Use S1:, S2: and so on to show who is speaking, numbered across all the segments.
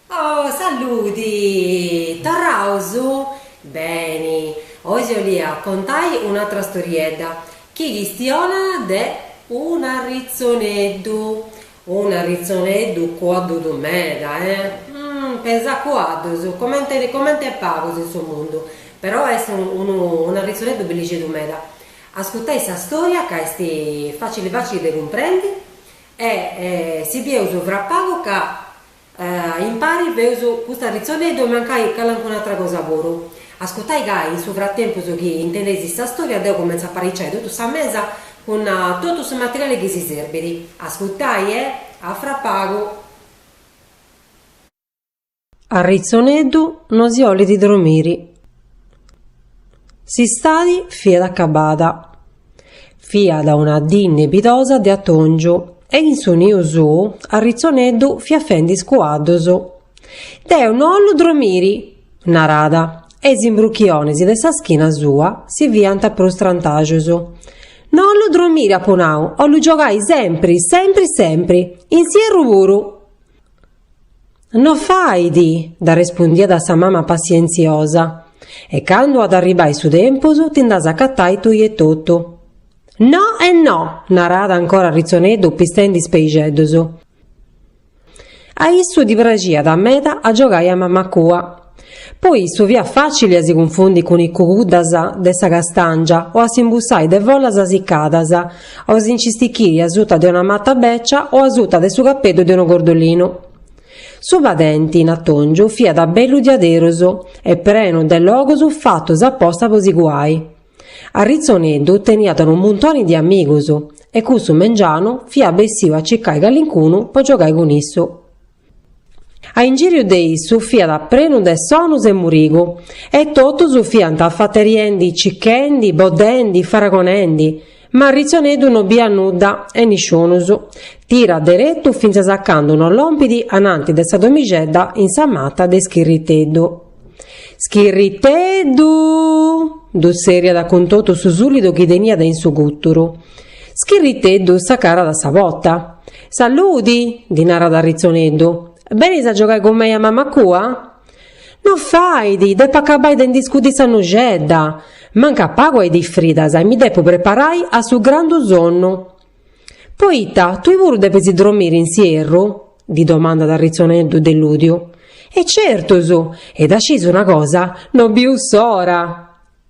S1: Oh saludi! Torraus? Beni, oi si 'olia contai un'atra storiedda chi chistionat de un'arritzoneddu, un'arritzoneddu cuaddudu meda, e pesat cuaddus, comenti comenti pagus in su mundu, però est unu un'arritzoneddu bellixeddu meda. Ascutai sa storia ca est facili facili de cumprendi. E si bieus fra pagu ca impari feus cust'arritzoneddu e mancai calancuna atra cosa puru. Ascutai ca in su fratempus chi intendeis sa storia deu cumentzu a apariciai totu sa mesa cun totu su materiali chi si serbit. Ascutai e a fra pagu.
S2: Arritzoneddu no si 'olit dromiri. S'istadi fiat acabada. Fiat una dì nebidosa de atòngiu e in su niu suu Arritzoneddu fiat fendi is cuaddus. Deu no 'ollu dromiri! narat e is imbruchionis de sa schina sua si fiant prus strantaxus. No 'ollu dromiri apu nau, 'ollu giogai sempri, sempri, sempri! In s'ierru puru! No fait, dd'arrespundiat sa mama passientziosa, e candu at a arribai su tempus ti nd'as a acatai tui etotu. No e no! narat ancora Arritzoneddu pistendi is peixeddus. A issu ddi praxiat meda a giogai a mamacua. Po issu fiat fàcili a si cunfundi cun is cuguddas de sa castàngia o a s'imbussai de follas assicadas o a si nci stichiri asuta de una mata bècia o asuta de su capeddu de unu gordolinu. Su padenti, in atòngiu, fiat bellu diaderosu e prenu de logos fatos aposta po si cuai. Arritzoneddu teniat unu muntoni de amigus e cussu mengianu fiat bessiu a circai callincunu po giogai cun issu. A ingìriu de issu fiat prenu de sonus e murigu, e totus fiant afateriendi, cichendi, boddendi, faragonendi, ma Arritzoneddu no biat nudda e nisciunus, tirat deretu fintzas a candu no lompit ananti de sa domixedda in sa mata de Schirriteddu. Schirriteddu! ddu tzerriat cun totu su sùllidu chi teniat in su gùturu. Schirriteddu s'acarat a sa pota. Saludi! ddi narat Arritzoneddu. Benis a giogai cun mei a mama cua? No fait! Depu acabai de ndi scudi sa nuxedda! Mancat pagu a is dis fridas e mi depu preparai a su grandu sonnu! Poita, tui puru depis dromiri in s'ierru? ddi domandat Arritzoneddu deludiu. E certus! E dda sciis una cosa, no biu s'ora!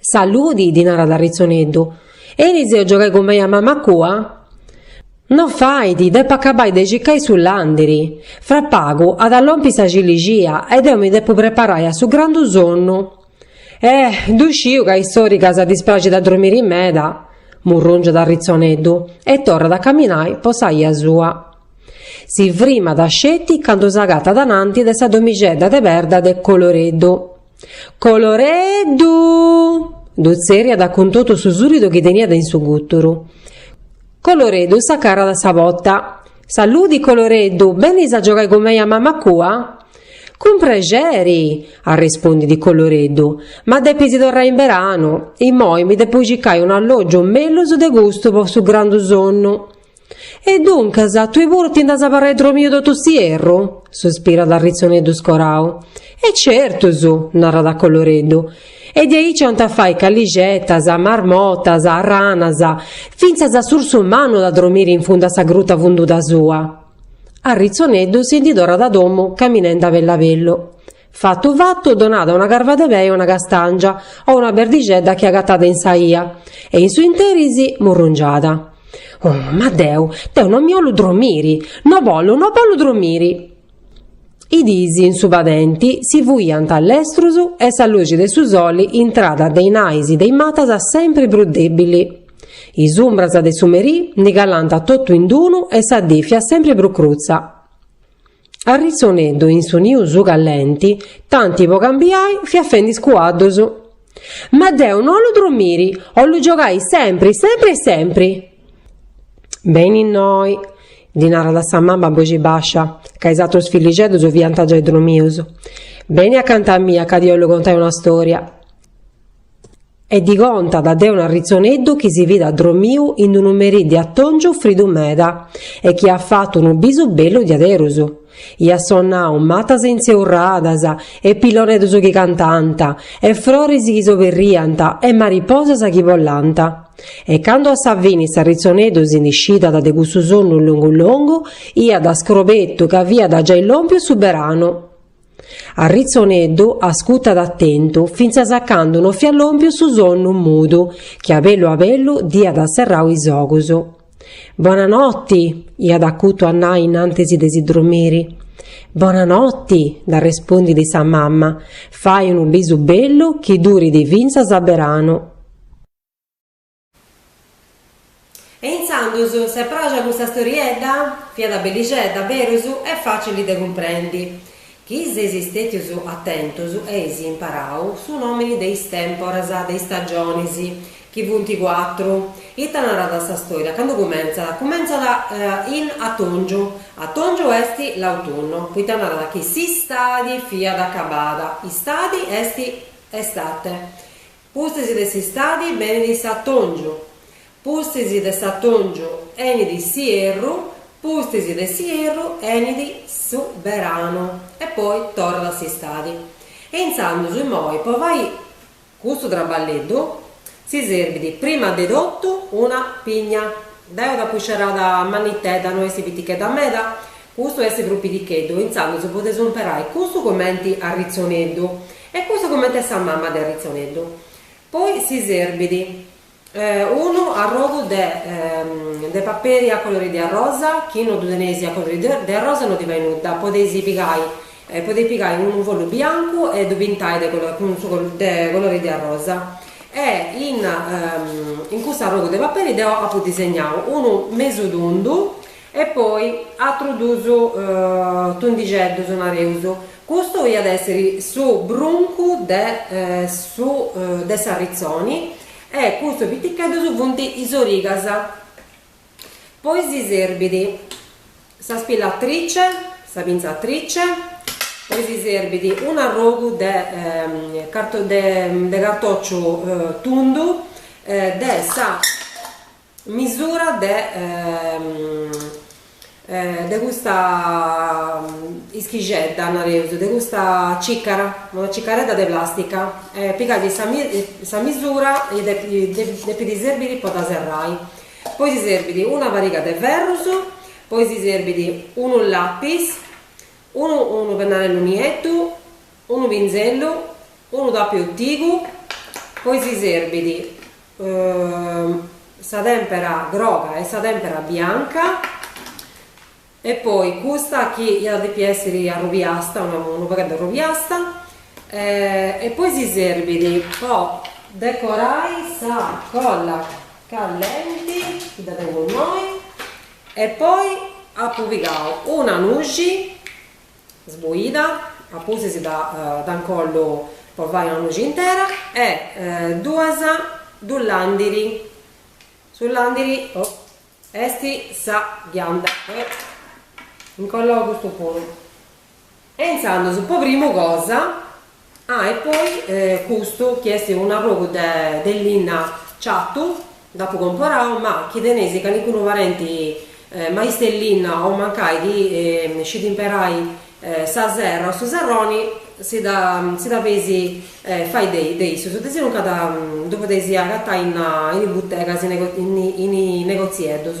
S2: Saludi, ddi narat Arritzoneddu, benis a giogai cun mei a mama cua? No fait, depo acabai de cicai su landiri. Fra pagu at a lompi sa cilixia e deo mi depo preparai a su grandu sonnu. Eh, ddu sciu ca a is soricas ddis praxit a dromiri meda! murrungiat Arritzoneddu e torrat a caminai po sa 'ia sua. Si frimat sceti candu s'agatat ananti de sa domixedda de perda de Coloreddu. Coloreddu! ddu tzerriat cun totu su sùridu chi teniat in su gùturu. Coloreddu s'acarat a sa pota. Saludi, Coloreddu! Benis a giogai cun mei a mama cua? Cun prexeri! arrespondit Coloreddu. Ma depis torrai in beranu. Immoi mi depo cicai un'allògiu mellus de custu po su grandu sonnu. E duncas, tue puru ti nd'as a abarrai dromiu totu s'ierru? suspirat Arritzoneddu scorau. E certus! narat Coloreddu. E de aici ant a fai callixetas, marmotas, ranas, fintzas s'ursu mannu at a dromiri in fundu a sa gruta funduda sua. Arritzoneddu si ndi torrat a domu caminende a bellu a bellu. Fatu fatu, donat una carva de pei a una castàngia o una perdixedda chi agatat in sa 'ia, e in su interis murrungiat. Oh, ma deu, deu no mi 'ollu dromiri! No bollu, no bollu dromiri! Is dis in su padenti si fuiant lestrus e sa luxi de su soli intrat de is nais de is matas sempri prus dèbili. Is umbras de su merì ndi calant totu in d-unu e sa dì fiat sempri prus crutza. Arritzoneddu in su niu suu callenti, tanti po cambiai fiat fendi is cuaddus. Ma deu no 'ollu dromiri, 'ollu giogai sempri, sempri e sempri! Beni innoi, ddi narat sa mama a boxi bascia, ca is atrus fillixeddus fiant giai dromius, beni acanta mia ca ti 'ollu contai una storia. E ddi contat de un'arritzoneddu chi si fit addromiu in d-unu merì de atòngiu fridu meda e chi at fatu unu bisu bellu diaderus. Iat sonnau matas intzeurradas e pilloneddus chi cantant e froris chi s'oberriant e mariposas chi bolant. E candu a sa fini s'arritzoneddu si ndi scidat de cussu sonnu longu longu, iat scrobetu ca fiat giai lòmpiu su beranu. Arritzoneddu ascutat atentu fintzas a candu no fiat lòmpiu su sonnu mudu chi a bellu a bellu dd'iat serrau is ogus. Bona noti! iat acutu a nai innantis de si dromiri. Bona noti! dd'arrespondit sa mama, fai unu bisu bellu chi durit fintzas a beranu.
S1: E intzandus, si est pràxia custa storiedda? Fiat bellixedda, berus, e fàcili de cumprendi. Chi seis stètius atentus eis imparau su nòmini de is tèmporas, de is stagionis, chi funt cuatru. Ita narat sa storia? Candu cumentzat? Cumentzat in atungiu. Atungiu est l'autunno, poita narat chi s'istadi fiat acabada. Istadi est estate. Pustis de s'istadi benit s'atòngiu, pustis de s'atòngiu enit s'ierru, pustis de s'ierru enit su beranu e poi torrat a s'istadi. E intzandus immoi po fai custu traballeddu si serbit prima de totu una pigna. Deu dd'apu scerada mannitedda, no est pitichedda meda, custu est prus piticheddu, intzandus podeus imperai custu cumenti arritzoneddu E custu comenti sa mama de s'arritzoneddu. Poi si serbit unu arrogu de de paperi a colori de arrosa, chi no ddu teneis a colori de arrosa no ddi fait nudda, podeis pigai podeis pigai unu follu biancu e ddu pintai de cun su de colori de arrosa e in in cust'arrogu de paperi deo apu disegnau unu mesu tundu E poi atrus dus tundixeddus nareus, custu iat a èssiri su bruncu de su de s'arritzoni e custus piticheddus funt is origas. Poi si serbit sa spillatrice, sa pinzatrice, poi si serbit un'arrogu de de cartòciu tundu de sa misura de de custa ischixedda, nareus, de custa cicara, una cicaredda de plastica, e pigai sa misura depit serbiri po dda serrai, poi si serbit una pariga de ferrus, poi si serbit unu lapis, unu unu pennarellu nieddu Unu pinzellu, unu tàpiu sùtigu, poi si serbit sa tèmpera groga e sa tèmpera bianca e poi custa chi iat a depi èssiri arrubiasta, unu pagheddu arrubiasta e poi si serbit po decorai sa colla callenti chi dda tengu innoi e poi apu pigau una nuxi Sboida, a pustis dd'incollu po fai una nuxi intera e duus duus làndiris, su landiri est sa ghianda e incollu custu puru e intzandus po primu cosa Ah e poi custu chi est unu arrogu de linna ciatu dd'apu comporau ma chi teneis calincunu parenti maistu de linna o mancai chi scit imperai sa serra o su serroni si dda feis fai de issus de sinuncas ddu podeis agatai in is butegas in is negotzieddus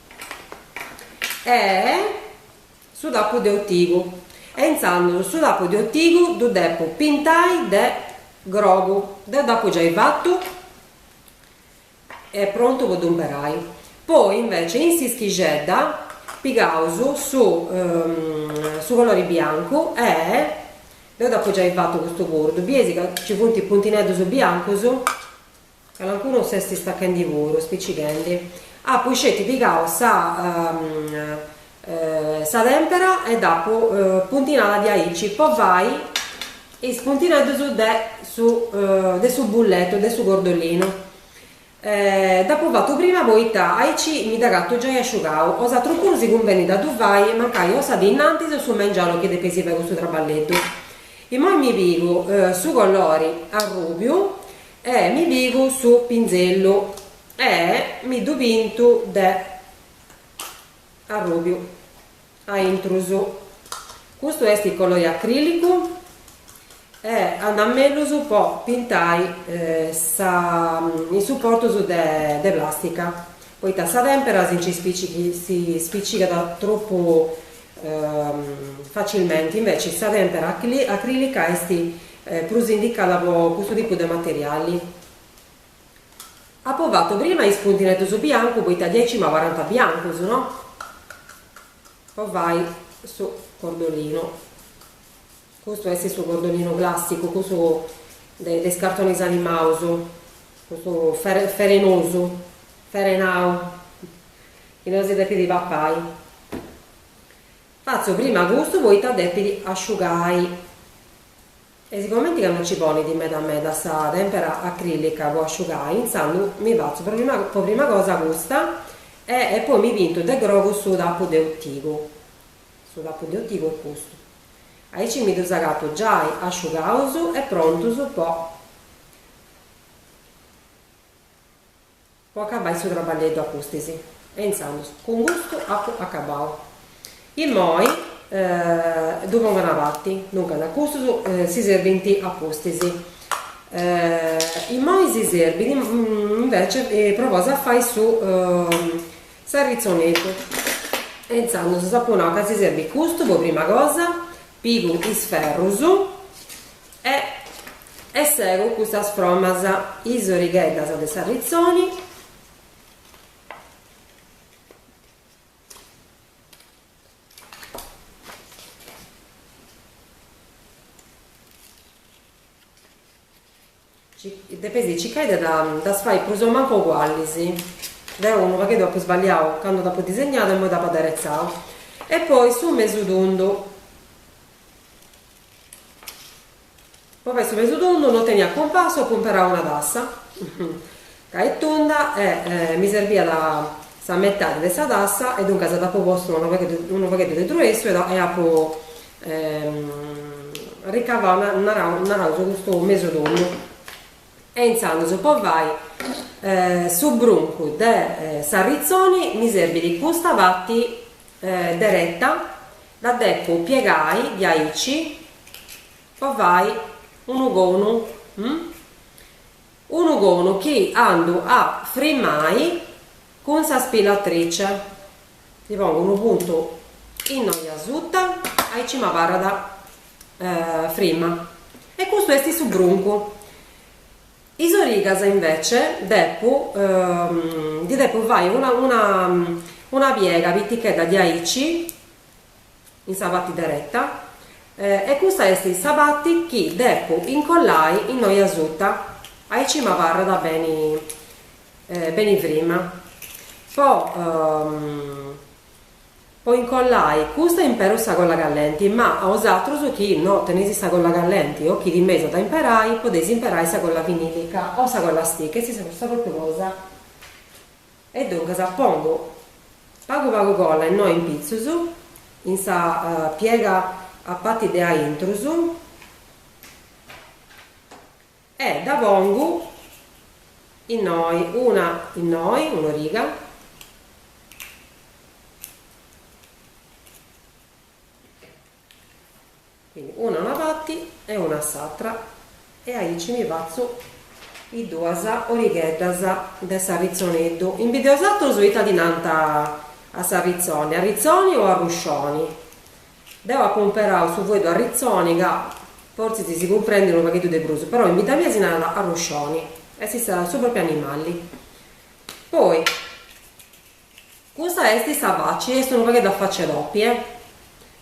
S1: e su tapu de otigu e intzandus su tapu de otigu ddu depu pintai de grogu deu dd'apu giai fatu e prontu po ddu imberai poi invece in s'ischixedda pigaus su su colori biancu e deu dd'apu giai fatu custu puru ddu biesi ca ci funt is puntineddus biancus Calincunu s'est istacchendi puru, spicighendi. Apu isceti pigau sa sa tempera e dd'apu puntinada diaici po fai is puntineddus de su de su bulletu, de su gordollinu. Dd'apu fatu prima poita aici mi dd'agatu giai asciugau. O s'atru puru si cumbenint a ddu fai mancai o sa dì innantis o su mengianu chi depeis fai custu traballeddu. Immoi mi pigu su colori arrubiu E mi pigu su pinzellu e mi ddu pintu de arrùbiu a intrus. Custu est colori acrilicu e andat mellus po pintai is suportus de plastica, poita sa tèmpera si nci spicigat tropu facilmenti, inveci sa tèmpera acrilica est Prus indicada po custu tipu de materiali. Apo fatu prima is puntineddus biancu poita diaici m'abarant biancus no? Po fai su cordolinu. Custu est su cordolinu classicu, cussu de is cartonis animaus, cussu ferenosu, ferenau, chi no si depit papai. Fatzu prima custu poita depit asciugai. E sigomenti ca no nci ponit meda meda sa tèmpera acrilica po asciugai, intzandus mi fatzu po prima cosa custa e e poi mi pintu de grogu su tapu de otigu. Su tapu de otigu est custu. Aici mi ddus agatu giai asciugaus e prontus po. Po acabai su traballeddu a pustis e intzandus cun custu apu acabau. Immoi ddu pongu a una parti, duncas custus si serbint a pustis. Immoi si serbit invece propriu a fai su s'arritzoneddu e intzandus apu nau ca si serbit custu po prima cosa, pigu is ferrus E segu custas fromas is origheddas de s'arritzoni. Depeis circai de ddas fai prus o mancu ugualis. Deu unu pagheddu apu sballiau candu dd'apu disegnau e poi dd'apu aderetzau. E poi su mesu tundu. Po fai su pesu tondu no tenia compasu apu imperau una tassa ca est tunda e mi serbiat sa metadi de sa tassa e duncas dd'apu postu unu pagheddu unu pagheddu de truessu e e apu ricavau na narau naraus custu mesu tundu e intzandus po fai su bruncu de s'arritzoni mi serbit custa pati dereta dda depu piegai diaici po fai unu conu unu conu chi andu a frimai cun sa spilatrice ddi pongu unu puntu innoi asuta aici m'abarrat frima e custu esti su bruncu Is origas invece depu ndi depu fai una una una piega pitichedda diaici in sa parti dereta e custa est sa parti chi depu incollai innoi asuta, aici m'abarrat beni beni frima po Po incollai custa imperu sa colla callenti, ma a 'osatrus chi no teneis sa colla callenti o chi timeis a dda imperai, podeis imperai sa colla vinilica o sa colla stick, est sa su propriu cosa. E duncas pongu pagu pagu colla innoi in pitzus in sa piega a pati de aintrus. E dda pongu innoi, una innoi, un'origa. Quindi una a una parti e una a s'atra e aici mi fatzu is duas origheddas de s'arritzoneddu. In bidda 'e 'osatrus ita ddi nanta a s'arritzoni? Arritzoni o arruscioni? Deu apo imperau su fueddu arritzoni ca fortzis si cumprendit unu pagheddu de prus, però in bidda mia si narat arruscioni, est sa su propriu animali. Poi custa est sa faci, est unu pagheddu a faci 'e topi, eh!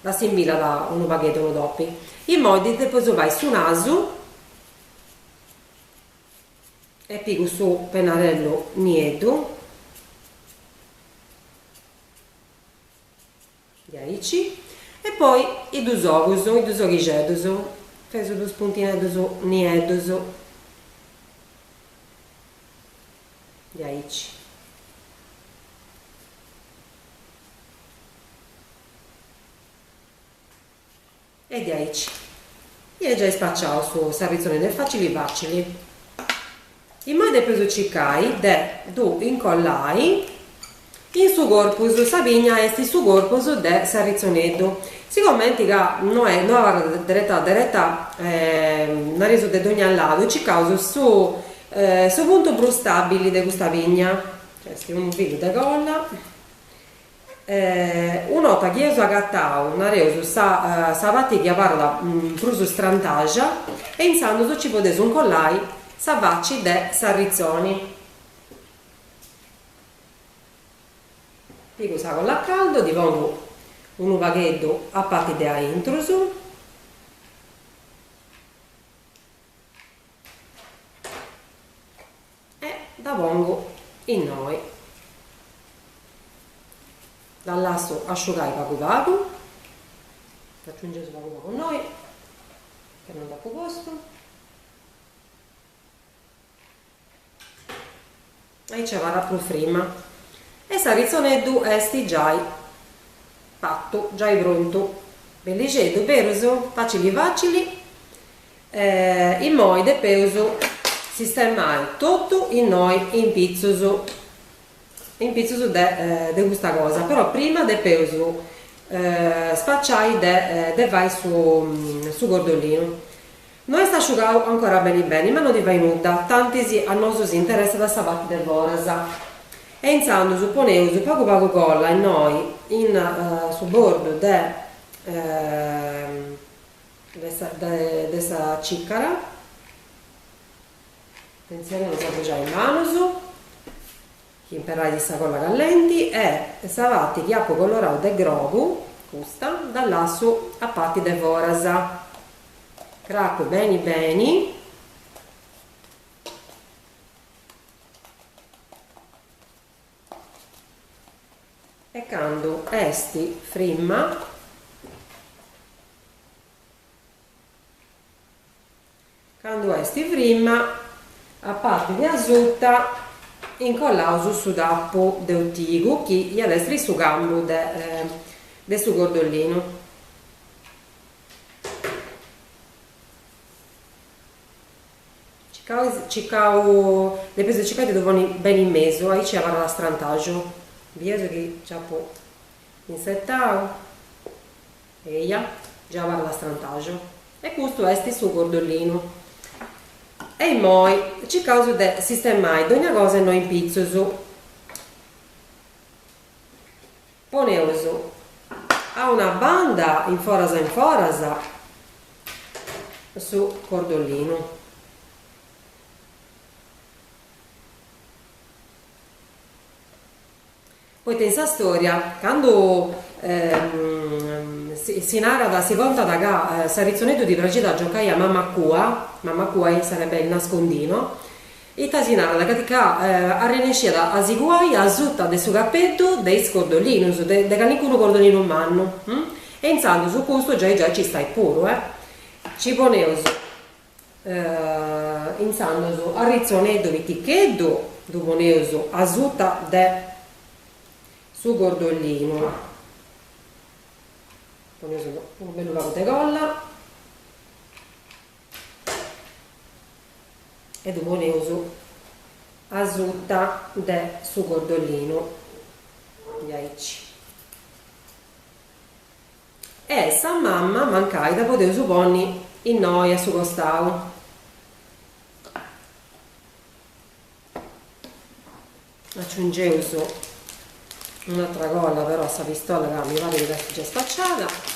S1: Dd'assimbillat unu pagheddu unu topi. Immoi ddi depu fai su nasu e pigu su pennarellu nieddu Diaici. E poi is duus ogus, is duus oghixeddus, feus duus puntineddus nieddus. Diaici. E diaici eus giai spaciau s'arritzoneddu facili facili. Immoi depeus cicai de ddu incollai in su corpus, sa pigna est su corpus de s'arritzoneddu, sigomenti ca no no abarrat dereta dereta nareus de dogna ladu cicaus su su puntu prus stabili de custa pigna, ca est unu pagu de colla Un'ota chi eus agatau, nareus, sa pati chi abarrat prus strantaja e intzandus nci podeus incollai sa faci de s'arritzoni. Pigu sa colla a caldu, ddi pongu unu pagheddu a pati de aintru. e dda pongu innoi, dda lassu asciugai pagu pagu, dd'aciungeus pagu pagu innoi ca non dd'apu postu aici abarrat prus frima e s'arritzoneddu est giai fattu, giai prontu, bellixeddu, berus facili facili e immoi depeus sistemai totu innoi in pitzus, in pitzus de custa cosa, però prima depeus spaciai de fai su cordolinu No est asciugau ancora beni beni, ma no ti fai nudda, tantis a nosu si interessat sa parti de foras. E intzandus poneus pagu pagu colla innoi in su bordu de de sa cicara, atentzione a no s'abruxai is manus, chi imperais sa colla callenti e sa pati chi apu colorau de grogu, custa, dda lassu a parti de foras. Cracu beni beni. E candu est frimma. Candu est frimma, a parti de asuta incollaus su tappu de utigu chi iat essiri su cambu de su cordolinu. Depeus de circai de ddu ponni beni in mesu, aici abarrat strantaxu, bideus chi nci apu intzertau. Eja, giai abarrat strantaxu. E custu est su cordolinu. E immoi circaus de sistemai dogna cosa innoi in pitzus. Poneus a una banda in foras in foras su cordolinu. Poita in sa storia candu si narat, si contat ca s'arritzoneddu ddi praxit a giocai a mamma cua, mamma cua est sarebbe il nascondino, ita si narat, ca ca arrennesciat a si cuai asuta de su capeddu de is cordolinus, de de calincunu cordolinu mannu, e intzandus custu giai giai nci stait puru, eh. Nci poneus Intzandus s'arritzoneddu piticheddu ddu poneus asuta de su cordolinu, poneus unu bellu pagu de colla e ddu poneus asuta de su cordolinu diaici E sa mamma mancai dda podeus ponni innoi a su costau. Aciungeus un'atra colla però a sa pistola ca mi parit chi s'est giai spaciada.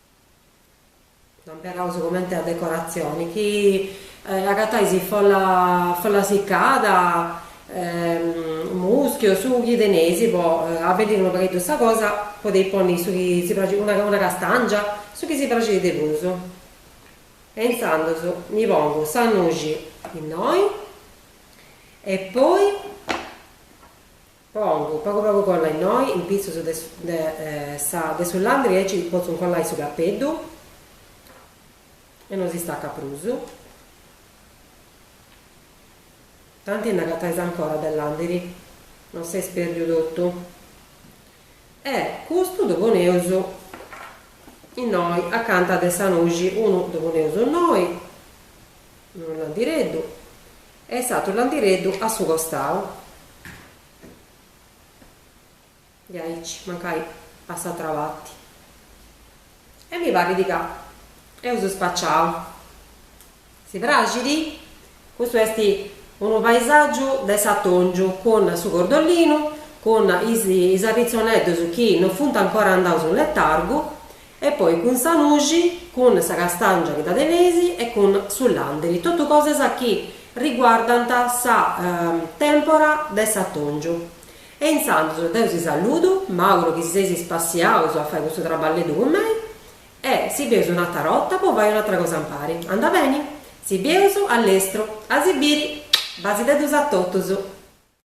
S1: Amperaus comente a decoratzioni chi agatais folla folla siccada muschiu su chi teneis po abbelliri unu pagheddu sa cosa podeis ponni su chi si praxit una una castàngia su chi si praxit de prus e intzandus ndi pongu sa nuxi innoi e poi Pongu, pagu pagu colla innoi, in pitzus de sa de su landri aici potzu incollai su cappeddu e no si staccat prus. Tanti nd'agatais ancora de landiri, no s'est perdiu totu. E custu ddu poneus innoi acanta de sa nuxi, unu ddu poneus innoi, unu landireddu, e s'atru landireddu a su costau diaici mancai po s'atra parti e mi parrit ca eus spaciau si praxit custu est unu paisàgiu de s'atòngiu cun su cordollinu cun is is arritzoneddus chi non funt ancora andaus in letargu E poi cun sa nuxi, cun sa castàngia chi dda teneis e cun su làndiri, totu cosas chi riguardant sa tèmpora de s'atòngiu. E intzandus deu si saludu, m'àuguru chi si seis spassiaus a fai custu traballeddu cun mei e si bieus un'atra 'orta po fai un'atra cosa impari. Anda beni! Si bieus a lestru! A si biri! Basiteddus a totus!